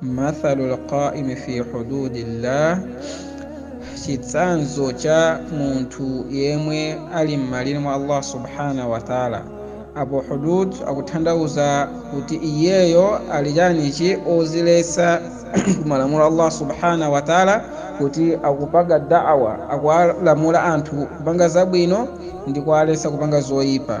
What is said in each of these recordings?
mathalu lqaimi fi hududillah chitsanzo cha munthu yemwe ali m'malire mwa allah subhanahu wataala apo hudud akuthandauza kuti iyeyo ali chanichi oziletsa kumalamulo allah subhanahu wataala kuti akupanga da'wa akuwalamula anthu kupanga zabwino ndi kuwaletsa kupanga zoyipa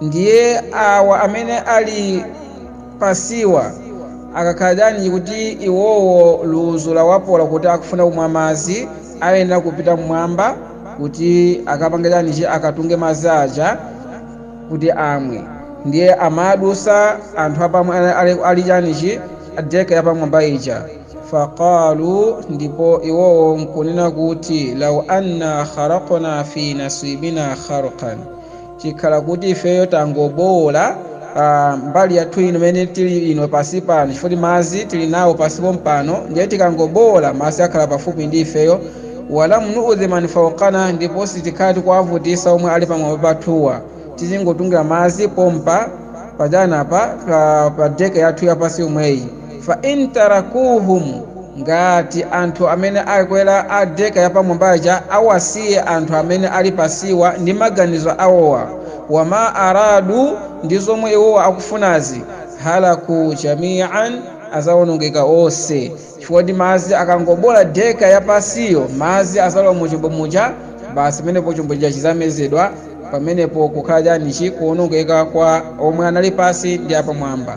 ndiye awa amene ali pasiwa akakhala chanji kuti iwowo luzu lawapola kuti akufuna kumwa madzi ayenera kupita mmwamba kuti akapange chanichi akatunge madzi aja kuti amwe ndiye amadusa anthu apa omwe ali chanichi adeka yapamwamba ija faqalu ndipo iwowo nkunena kuti lau anna kharaqna fi nasibina kharqan chikhala kuti ifeyo tangobowola mbali yathu ino imene tili ino pasi pano chifukwa madzi tili nawo pasi pompano ndiye tikangobowola madzi akhala pafupi ndi ifeyo walam nuudhi man fauqana ndipo sitikhala tikuwavutisa omwe ali pamwamba pathuwa tizingotungira madzi pompa pajanapa pa, pa deke yathu yapasi yomweyi fa in tarakuhum ngati anthu amene akwera adeka yapamwamba aja awasiye anthu amene ali pasiwa ndi maganizo awowa wama aradu ndi zomwe iwowa akufunazi halaku jamian azawonongeka onse chifukwa choti madzi akangobola deka yapasiyo madzi azalowa mu chombo muja basi pamenepo chombo chija chizamezedwa pamenepo kukhala chanichi kuwonongeka kwa omwe anali pasi ndi apamwamba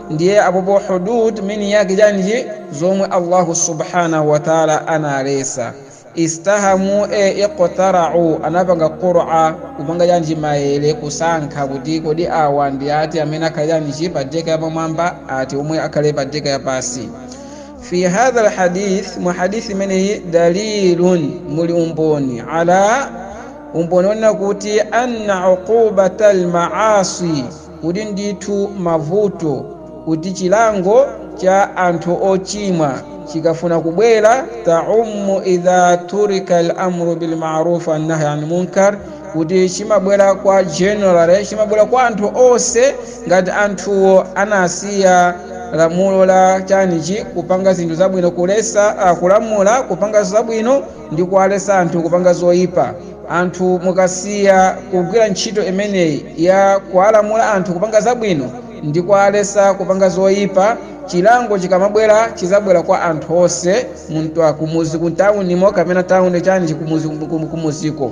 ndiye apopo hudud meaning yake chanji zomwe allahu subhanahu wataala analesa istahamu e iqtarau anapanga qura kupanga chanji mayere kusankha kuti kodi awa ndi ati amene akhale chanji pa deka yapamwamba ati omwe akhale pa deka yapasi fi hadha lhadith mu hadithi imeneyi dalilun muli umboni ala umboni wonena kuti anna uqubata lmaasi kuti ndithu mavuto kuti chilango cha anthu ochimwa chikafuna kubwera taumu idha turika al-amru bil ma'ruf wan nahy anil munkar kuti chimabwera kwa general chimabwera kwa anthu onse ngati anthuwo anasiya lamulo la chanichi kupanga zinthu zabwino kulesa uh, kulamula kupanga zabwino ndi kuwaletsa anthu kupanga zoyipa anthu mukasiya kugwira ntchito imeneyi ya kuwalamula anthu kupanga zabwino ndi kuwaletsa kupanga zoyipa chilango chikamabwera chizabwera kwa anthu onse munthu akumuzi kuntawunimo kapena tawuni chanichi kumuziko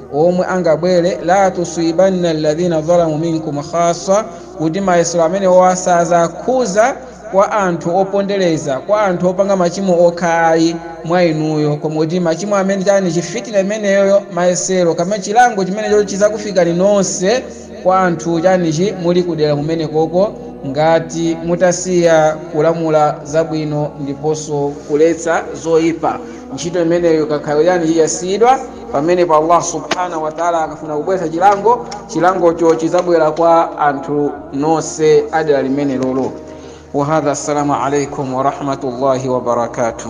omwe angabwere la tusibanna alladhina zalamu minkum khassa kuti mayesero amenewo sazakhuza kwa anthu opondereza kwa anthu opanga machimo okha ayi mwa inuyo koma kuti machimo amene chanichi fitina imeneyoyo mayesero kaya chilango chimenecho chizakufikani nonse kwa anthu chanichi muli kudera kumenekoko ngati mutasiya kulamula zabwino ndiponso kuletsa zoyipa ntchito imeneyo ikakhala yani yasiyidwa pamene allah subhanahu wataala akafuna kubweza chilango chilangocho chizabwera kwa anthu nonse a dera limenelolo wahadha assalamu alaikum warahmatullahi wabarakatuh